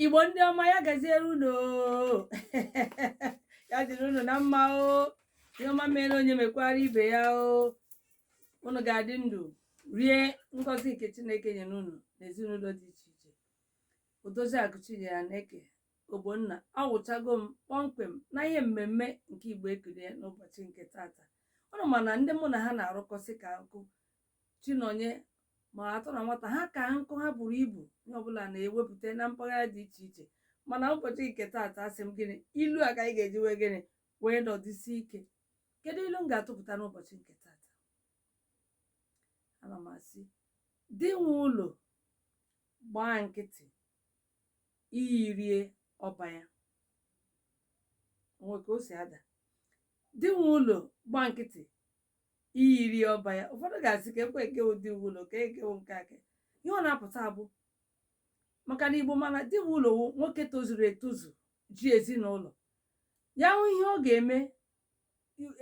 igbo ndị ọma ya gaziere unu ya dịrị unu na mma o ihe ọma mere onye mekwara ibe ya o unu ga-adị ndụ rie ngọzi nke chineke nyere unu na ezinụlọ dị iche iche odozi akụ chinyere aneke ogbonna awụchago m kpọmkwem na ihe mmemme nke igbo ekele n'ụbọchị nke tata unu ma na ndị mụ na ha na-arụkọsị ka nkụ Chinonye ma atọ na nwata ha ka nkụ ha buru ibu onye ọbụla na-ewepụta na mpaghara dị iche iche mana ụbọchị nke taata asị m gịnị ilu a ka anyị ga-eji wee gịnị wee nọdụsi ike kedu ilu m ga-atụpụta n'ụbọchị nke taata ana m asị di nwe ụlọ gbaa nkịtị iyi rie ọba ya o nwe ka o si ada di nwe ụlọ gbaa nkịtị iyi rie ọba ya ụfọdụ ga-asị ka ekwe nke di nwe ụlọ ka ekewo nke aka ihe ọ na-apụta bụ maka na igbo ma na di nwe ụlọ wụ nwoke tozuru etozu ji ezinụlọ ya hụ ihe ọ ga-eme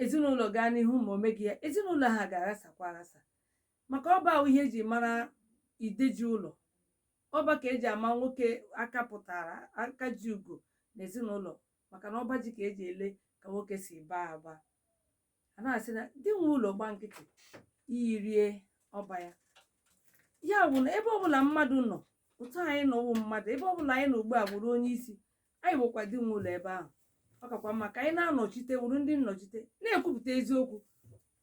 ezinụlọ gaa n'ihu ma o meghị ya ezinụlọ ha ga-aghasakwa aghasa maka ọba wụ ihe eji mara ide ji ụlọ ọba ka eji ama nwoke aka pụtara aka ji ugo na ezinụlọ maka na ọba ji ka eji ele ka nwoke si baa aba a na-asị na di nwe ụlọ gbaa nkịtị iyi rie ọba ya ya bụ na ebe ọbụla mmadụ nọ otu anyị nọ wụ mmadụ ebe ọbụla anyị nọ ugbu a bụrụ onye isi anyị bụkwa di nwe ụlọ ebe ahụ ọ kakwa mma ka anyị na-anọchite wụrụ ndị nnọchite na-ekwupụta eziokwu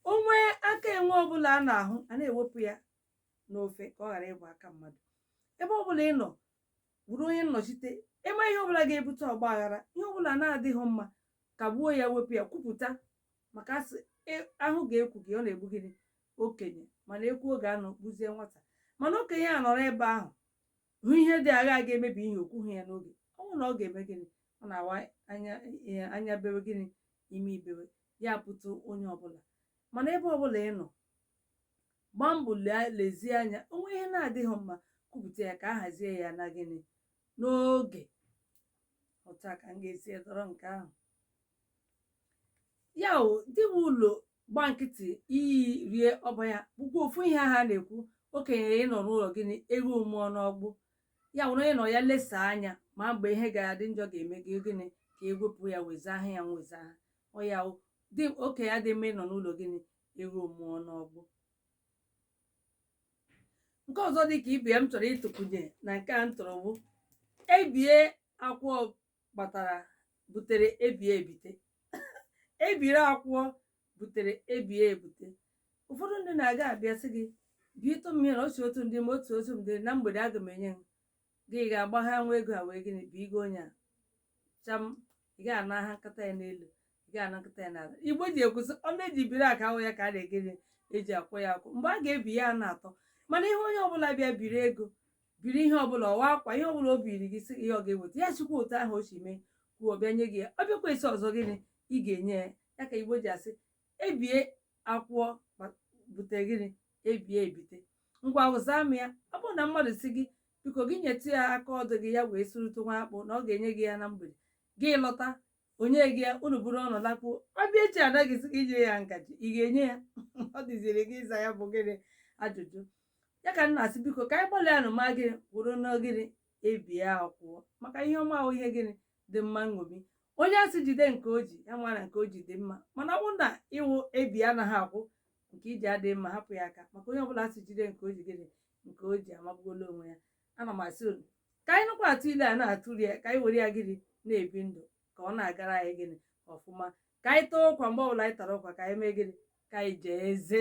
o nwee aka enwe ọbụla a na-ahụ a na-ewepụ ya n'ofe ka ọ ghara ịbụ aka mmadụ ebe ọbụla ị nọ bụrụ onye nnọchite ị ma ihe ọbụla ga-ebute ọgba aghara ihe ọbụla na-adịghị mma kagbuo ya wepụ ya kwupụta maka a sị e- ahụ ga ekwughị ọ na-egbu gịnị okenye mana ekwuo ga anụghị gbuzie nwata mana okenye a nọrọ ebe ahụ hụ ihe dị agha ga-emebi ihe o kwughị ya n'oge ọ bụrụ na ọ ga-eme gịnị ọ na-awa anya bewe gịnị imi ebewe ya pụta onye ọbụla mana ebe ọbụla ị nọ gbaa mbọ lezie anya o nwee ihe na-adịghị mma kwupụta ya ka a hazie ya na gịnị n'oge otu a ka m ga-esi edọrọ nke ahụ ya wụ di nwe ụlọ gbaa nkịtị iyi rie ọba ya bụkwa ofu ihe ha na-ekwu okenye ịnọ n'ụlọ gịnị ewu amụọ n'ọgbụ ya wụ na onye nọ ya lesa anya ma mgbe ihe ga-adị njọ ga-eme gị gịnị ka ewepụ ya wezuga ya wezuga ọya dị okenye adịghị mma ịnọ n'ụlọ gịnị ewu mụọ n'ọgbụ nke ọzọ dị ka ibe ya m chọrọ ịtụkwunye na nke a m tụrụ bụ ebie akwụọ gbatara butere ebie ebite ebiri akwụọ butere ebie ebute ụfọdụ ndị na-aga abịa sị gị bietụ m ihe na otu otu m dị ma otu otu m dị na mgbede aga m enye gị ga-agba ha nwa ego a wee gịnị bụ igo onye a cham ị ga ana ha nkata ya n'elu ị ga ana nkata ya n'ala igbo ji ekwu sị ọnụ eji biri aka awụghị ya ka a na-egịnị eji akwụ ya akwụ mgbe a ga-ebi ya na-atọ mana ihe onye ọbụla bịa biri ego biri ihe ọbụla ọ wụ akwa ihe ọbụla o biri gị sị ihe ọ ga-eweta ya echi kwa otu ahụ o si mee kwuo bịa nye gị ya ọ bịakwa esi ọzọ gịnị ị ga-enye ya ya ka igbo ji asị ebie akwụọ bute gịnị ebie ebite ngwanụ zaa m ya ọ bụrụ na mmadụ sị gị biko gị nyetụ ya aka ọdụ gị ya wee sụrụtụ nwa akpụ na ọ ga-enye gị ya na mgbede gị lọta o nyeghị ya unu buru ọnụ lakpuo ọ bịa echi na-asịzi gị nye ya ngaji ị ga-enye ya ọ dịziri gị ịza ya bụ gịnị ajụjụ ya ka m na-asị biko ka anyị gbalịanụ ma gịnị kwụrụ na gịnị ebie akwụọ maka ihe ọma wụ ihe gịnị dị mma nṅomi onye a sị jide nke o ji ya mara nke o ji dị mma mana ọ bụrụ na ị wụ ebie anaghị akwụ nke i ji adịghị mma hapụ ya aka maka onye ọbụla a sị jide nke o ji gịnị nke o ji amagbuola onwe ya ana m asị unu ka anyị nụkwa atụ ile a na-atụri ya ka anyị were ya gịnị na-ebi ndụ ka ọ na-agara anyị gịnị ọfụma ka anyị taa ụkwa mgbe ọbụla anyị tara ụkwa ka anyị mee gịnị ka anyị jie eze